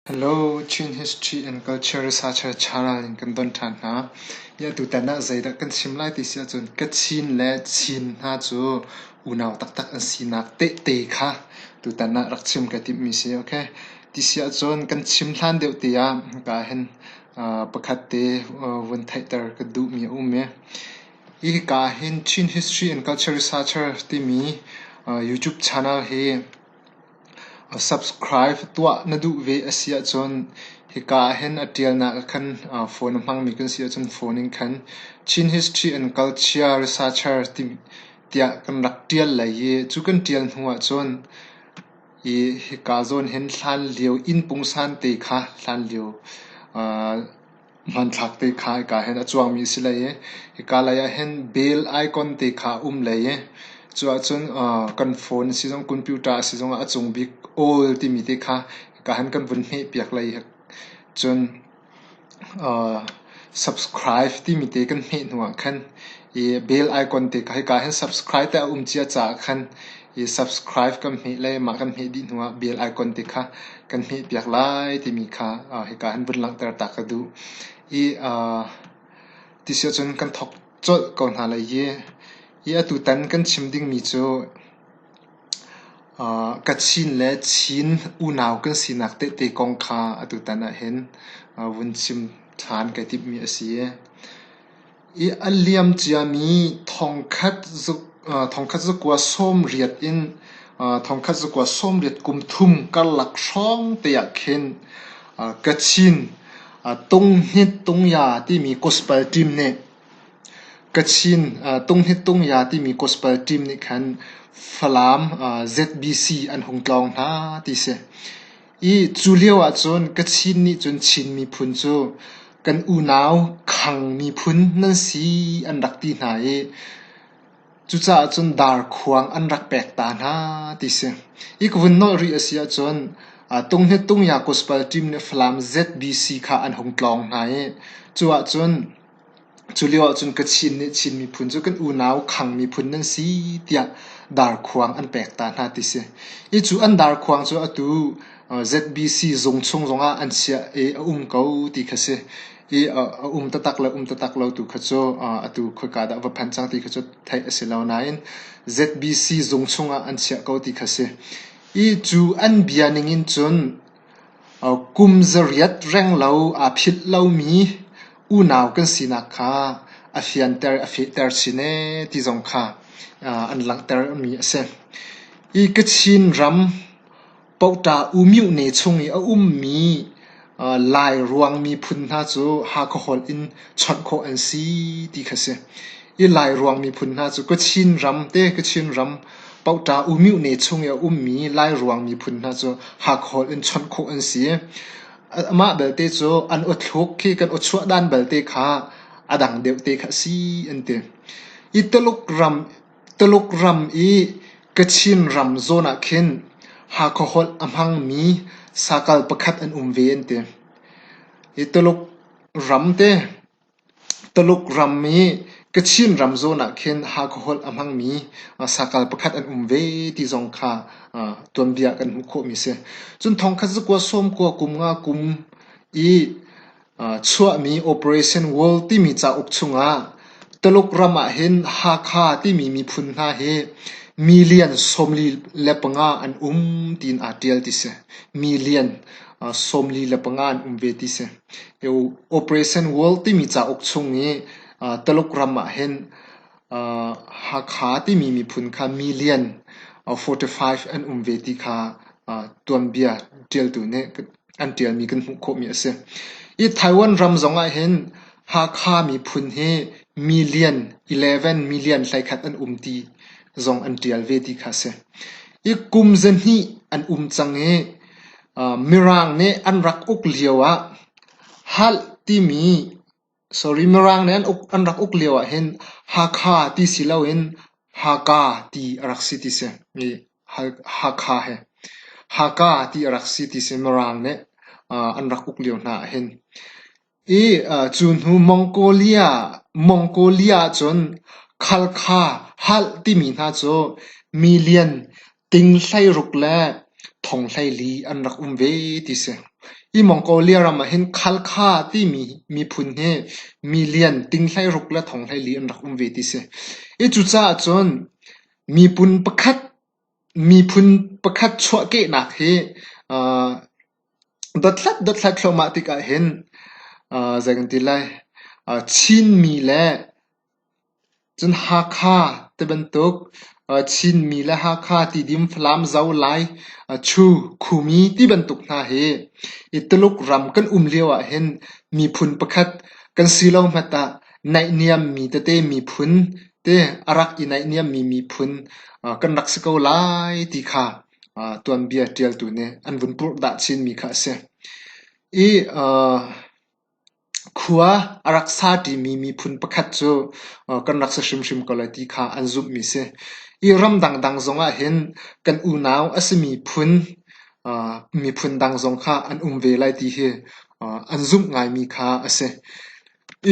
Chin History and Culture Researcher Cha Ral in kan don ṭhan hna. Hi atu tan ah zeidah kan chim lai ti si ahcun Kachin le Chin hna cu unau taktak an sinak tehte kha tutan ah rak chim ka timhmi si. Okay. Ti si ahcun kan chim hlan deuh te ah ka ahhin pakhat te vun theihter ka duhmi a um i, hi ka ahhin Chin History and Culture Researcher timi YouTube channel hi Subscribe tuah na duh ve a si ahcun hika ahhin a ṭialnak ah khan phone a hmangmi kan si ahcun phone in khan Chin History and Culture Researcher tiah kan rak ṭial lai i cu kan ṭial hnu ahcun i hika zawn hin hlanlio inn pungsan te kha hlanlio Hmanthlak te kha hika hin a cuangmi a si hlei i hika lei ah hin bell icon te kha a um hlei i cu ahcun kan phone a si zong computer a si zong ah a cung bik all timi te kha hika hin kan vun hmehpiak hlei hi cun subscribe timi te kan hmeh hnu ah khan i bell icon te kha hika hin subscribe te a um cia caah khan i subscribe kan hmeh le mah kan hmeh dih hnu ah bell icon te kha kan hmeh piak lai timi kha uh, hika han vun langhter ta ka duh i uh, ti sio cun kan thok colh ko hna lai i i atu tan kan chim dingmi cu uh, kachin le chin unau kan sinak tehte kong kha atu tan ah hin uh, vun chim ṭhan kai timhmi a si I a liam ciami thongkhat zakua sawmriat in thongkhat zakua sawmriat kum thum karlak hrawng te ah khin Kachin Tunghit Tungya timi gospel team nih Kachin Tunghit Tungya timi gospel team nih khan Falam ZBC an hung tlawng hna ti si. I cu lio ahcun ka Chin nih cun Chin miphun cu kan unau Khang miphun nan si an rak ti hna i cucaah cun Darkhuang an rak pek ta hna ti si. I ka vun nolh rih a si ahcun Tung Hnet Tung Yakush Pal Team le Falam ZBC kha an hung tlawng hna i cu ahcun Culio ahcun Kachin nih Chin miphun cu kan unau Khang miphun nan si tiah Darkhuang an pek ta hna ti si. I cu an Darkhuang cu atu ZBC zung chung zongah an chiah i a um ko ti kha si. I a um taktak le um taktak lo tu kha cu atu khoika dah va phanh cang ti kha cu theih a si lo. Nain ZBC zung chungah an chiah ko ti kha si. I cu an bia ning in cun Kum zariat reng lo aa philh lomi unau kan sinak kha a fianter a fehter chin ee ti zong kha an langhtermi a si. Hi Kachin ram Pota Umyuh ne chung i a ummi Lairuang miphun hna cu Hakha holh in chawnh khawh an si ti kha a si. Hi Lairuang miphun hna cu Kachin ram te, Kachin ram Pota umih ne chung i a ummi Lairuang miphun hna cu hakhawl in chawnh khawh an si. Amah belte cu an awthluk khi kan awchuah dan belte kha a dang deuh te kha a si an ti. I Tuluk ram, Tuluk ram i Kachin ram zawn ah khin Hakha holh a hmangmi sakal pakhat an um ve an ti. I Tuluk ram te Tuluk ram i Kachin ram zawn ah khin Hakha holh a hmangmi sakal pakhat an um ve ti zong kha tuanbia kan hmuh khawhmi a si. Cun thongkhat zakua sawmkua kum nga kum i chuahmi Operation World timi cauk chungah Tuluk ram ahhin Hakha timi miphun hna hi million sawmli le panga an um tiin aa ṭial ti a si. Million sawmli le panga an um ve ti a si. Operation World timi cauk chung i Taluk ram ah hin Hakha timi miphun kha million forty five an um ve ti kha tuanbia ṭialtu nih an ṭialmi kan hmuh khawhmi a si. Hi Taiwan ram zong ah hin Hakha miphun hi million eleven million hleikhat an um ti zong an ṭial ve ti kha a si. Hi kum zahnih an um cang i Mirang nih an rak uk lioah Halt timi Mirang nih an rak uk lioah hin Hakha ti si loin Haka ti a rak si ti si. Hakha he Haka ti a rak si ti si Mirang nih an rak uk lio hna ahhin. Cu hnu Mongolia ahcun Khalkha halh timi hna cu milian ting hleiruk le thong hleili an rak um ve ti si. Hi Mongolia ram ahhin Khalkha timi miphun hi milian ting hleiruk le thong hleili an rak um ve ti si. Hi cucaah cun miphun pakhat chuahkehnak hi Dothlat dothlat thluahmah tikah hin aa zei kan ti lai aa Chinmi le cun Hakha tibantuk aa Chinmi le Hakha tidim Falam zo Lai aa Chu Khumi tibantuk hna hi i Tuluk ram kan um lio ahhin miphun pakhat kan si lo hmat ah naihniammi tete miphun te a rak i naihniammi miphun kan rak si ko lai ti kha tuanbia ṭialtu nih an vun purhdah chinmi kha a si. I khua a rak sa ṭimi miphun pakhat cu kan rak si hrimhrim ko lai ti kha an zumhmi a si. I ram dangdang zongah hin kan unau a simi phun miphun dang zong kha an um ve lai ti hi an zumh ngaimi kha a si.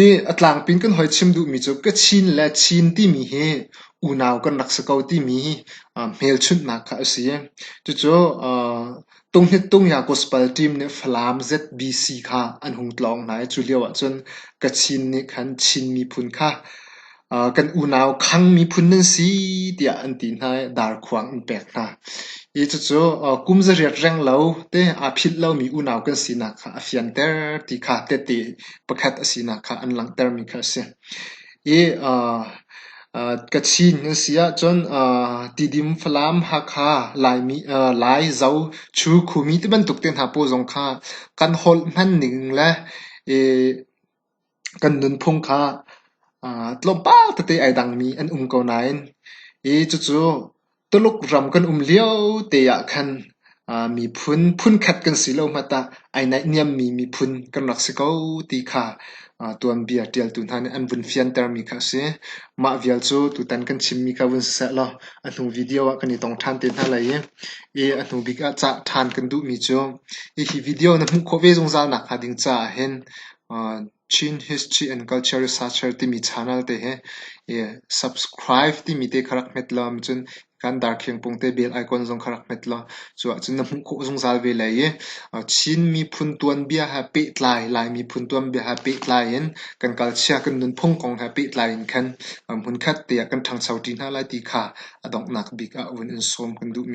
I a tlangpin kan hoi chim duhmi cu ka chin le Chin timi hi unau kan rak si ko timi hmelchunhnak kha a si. Cucu Tunghnitt Tungya Gospel Team nih Falam ZBC kha an hung tlawng hna i cu lio ahcun Kachin nih khan Chin miphun kha kan unau Khang miphun nan si tiah an ti hna i darkhuang an pek hna. I cucu kum zariat reng lo te aa philh lomi unau kan sinak kha a fianter ti kha tehte pakhat a sinak kha an langhtermi kha a si. I Kachin nan si ahcun Tidim, Falam, Hakha, Laimi, Lai, Zo, Chu, Khumi tibantuk te hna pawl zong kha kan holh hman ning le i Kan nunphung kha tlawmpal tete ai dangmi an um ko nain hi cucu Tuluk ram kan um lio te ahkhan miphun phunkhat kan si lo hmanh tah ai naihniammi miphun kan rak si ko ti kha tuanbia ṭialtu hna nih an vun fiantermi kha a si. Mah vial cu tutan kan chimmi kha vun si seh law a hnu video ah kan i tong ṭhan te hna lai i a hnubik ah cah ṭhan kan duhmi cu hihi video na hmuh khawh ve zungzal nakhnga ding caah hin Chin History and Culture Researcher timi channel te he subscribe timi te kha rak hmet lo ahcun kan darkhingpung te bel icon zong kha rak hmet law cuahcun na hmuh khawh zungzal ve lai i Chin miphun tuanbia he pehtlai Lai miphun tuanbia he pehtlai in kan kalchia kan nunphung kong he pehtlai in khan hmunkhat te ah kan ṭhangcho ṭi hna lai ti kha a donghnak bik ah vun in sawm kan duhmi a si.